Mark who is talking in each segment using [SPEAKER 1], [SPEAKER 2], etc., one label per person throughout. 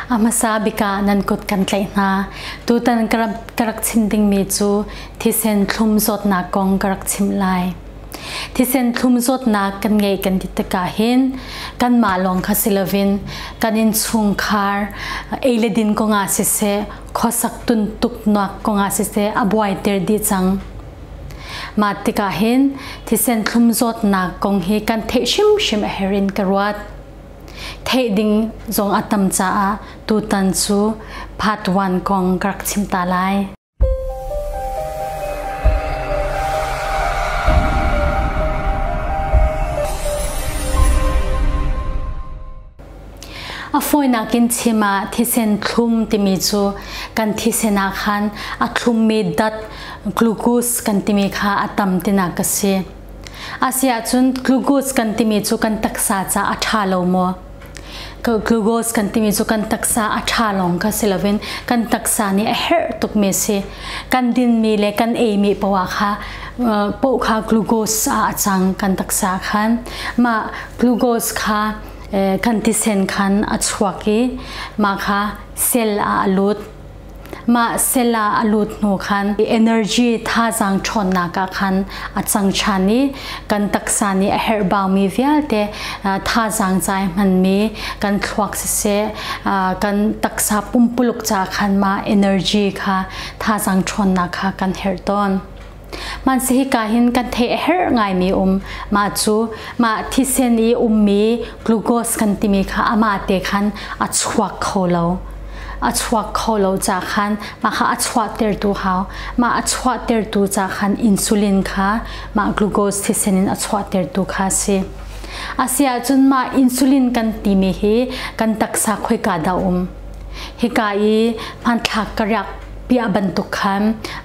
[SPEAKER 1] A hmasa bik ah nan kut kan tlaih hna. Tutan ka rak chim dingmi cu thisen thlum zawtnak kong ka rak chim lai. Thisen thlum zawtnak kan ngei kan ti tikah hin kanmah lawng kha si loin kan innchungkhar ei le din kongah siseh khuasak tuntuknak kongah siseh a buaiter dih cang. Mah tikah hin thisen thlum zawtnak kong hi kan theih hrimhrim a herh in ka ruat. theih ding zong a tam caah tutan cu part one kong ka rak chim ta lai. a fawinak in chim ah thisen thlum timi cu kan thisen ah khan a thlummi dat glucose kan timi kha a tam tinak ka si Asiahcun glucose kan timi cu kan taksa caah a ṭha lo maw? Glucose kan timi cu kan taksa a ṭha lawng kha si loin kan taksa nih a herh tukmi si. Kan dinmi le kan eimi poah kha poh kha glucose ah a cang kan taksa khan. Mah glucose kha kan tisen khan a chuak i mah kha cell ah a lut. Mah sel ah a lut hnu khan energy thazaang ṭhawnnak ah khan a cang ṭhan i kan taksa nih a herhbaumi vialte thazaang cai hmanmi kan thluak siseh kan taksa pumpuluk ca khan mah energy kha thazaang ṭhawnnak kha kan herh tawn. man se hika hin kan the her ngai mi um ma chu ma thisen i um mi glucose kan timi kha ama te khan a chuak kho lo a chuak kho lo cha khan ma kha a chuah ter tu hau ma a chuah ter tu cha khan insulin kha ma glucose thisen in a chuah ter tu kha si asia chun ma insulin kan timi hi kan taksa khoi ka da um hika i man thlak ka rak piah bantuk khan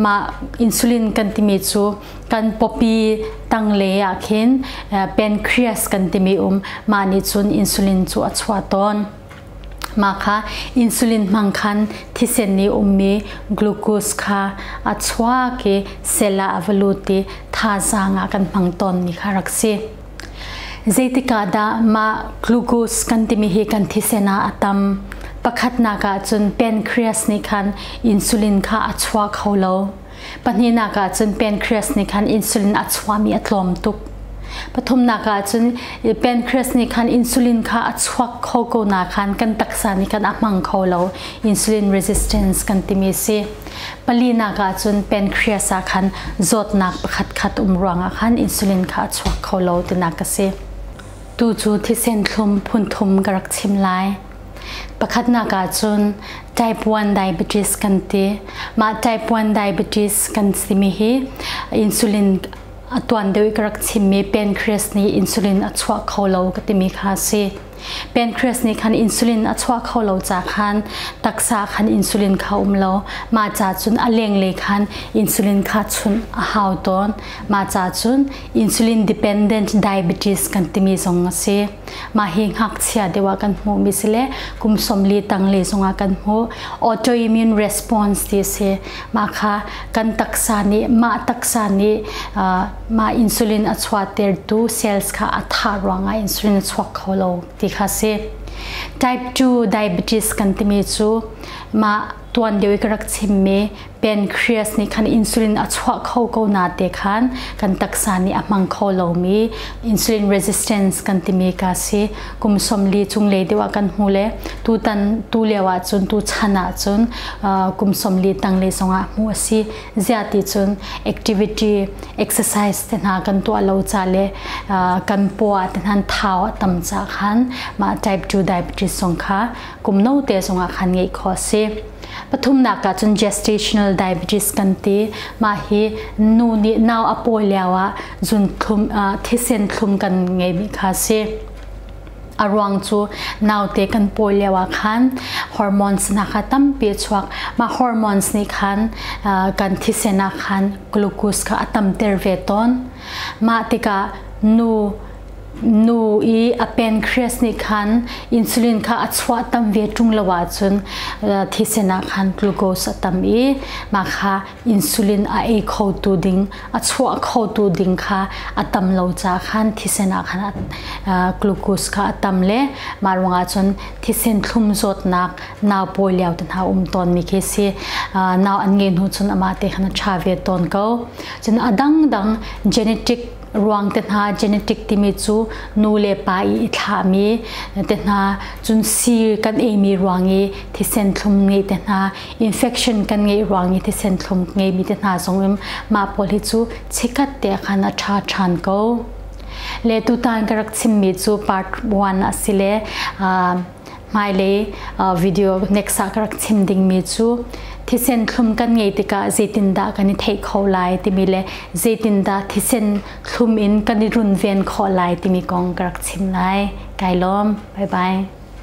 [SPEAKER 1] mah insulin kan timi cu kan pawpi tanglei ah khin pancreas kan timi um mah nih cun insulin cu a chuah tawn mah kha insulin hmang khan thisen i ummi glucose kha a chuak i sel ah a va lut i thazaang ah kan hmang tawn mi kha rak si Zeitikah dah mah glucose kan timi hi kan thisen ah a tam? Pakhatnak ah cun pancreas nih khan insulin kha a chua kho lo. Pahnihnak ah cun pancreas nih khan insulin a chuami a tlawm tuk. Pathumnak ah cun pancreas nih khan insulin kha a chuak kho ko na khan kan taksa nih khan a hmang kho lo. Insulin resistance kan timi si. palinak ah cun pancreas ah khan zawtnak pakhatkhat um ruangah khan insulin kha a chuak kho lo tinak ka si tu cu thisen thlum phunthum ka rak chim lai pakhatnak ah cun type 1 diabetes kan ti mah type 1 diabetes kan simi hi insulin a tuan deuh i ka rak chimmi pancreas nih insulin a chuah kho lo ka timi kha a si Pancreas nih khan insulin a chuah kho lo ca khan taksa khan insulin kha um lo mah ca cun a lenglei khan insulin kha chunh a hau tawn mah ca cun insulin dependent diabetes kan timi zong a si mah hi ngakchia deuh ah kan hmuh mi si le kum somli tangle zong ah kan hmuh autoimmune response ti si mah kha kan taksa nih mah taksa nih uh, mah insulin a chuahtertu cells kha a thah ruangah insulin a chuak kho lo ti kha si. Type 2 diabetes kan timi cu mah tuan lio i ka rak chimmi pancreas nih khan insulin a chuah kho ko na te khan kan taksa nih a hmang kho lomi insulin resistance kan timi ka si kum somli cunglei deuh ah kan hmu le tutan tu lio ahcun tu chan ahcun kum somli tang le zongah hmuh a si ziati cun activity exercise te hna kan tuah lo ca le uh, kan pua te hnan thau a tam ca khan ma type 2 diabetes song kha kum no te songah khan ngei kho si pathum nak ka cun gestational diabetes kan ti ma hi nu nih nau a pawi liao ah zun thlum uh, thisen thlum kan ngei mi kha si A ruang cu naute kan pawi lio ah khan hormones na kha tampi a chuak. Mah hormones nih khan kan thisen ah khan glucose kha a tamter ve tawn. Mah tikah nu nu i a pancreas nih khan insulin kha a chuah tam ve ṭung lo ahcun thisen ah khan glucose a tam i mah kha insulin a ei khotu ding a chuah khotu ding kha a tam lo ca khan thisen ah khan glucose kha a tam le mah ruangah cun thisen thlum zawtnak nau pawi lio te hna um tawn mi khi si nau an nge hnu cun amah te khan a tha ve tawn ko cun a dangdang genetic ruang te hna genetic timi cu nu le pa i i thlah mi te hna cun si kan ei mi ruang i thisen thlum ngei te hna infection kan ngeih ruang i thisen thlum ngeimi te hna zong in mah pawl hi cu chikhat te khan a ṭha ṭhan ko le tutan ka rak chimmi cu part 1 a si le hmailei video next ah ka rak chim dingmi cu thisen thlum kan ngei tikah zeitindah kan i theih kho lai timi le zeitindah thisen thlum in kan i runven khawh lai timi kong ka rak chim lai kai lawm bye bye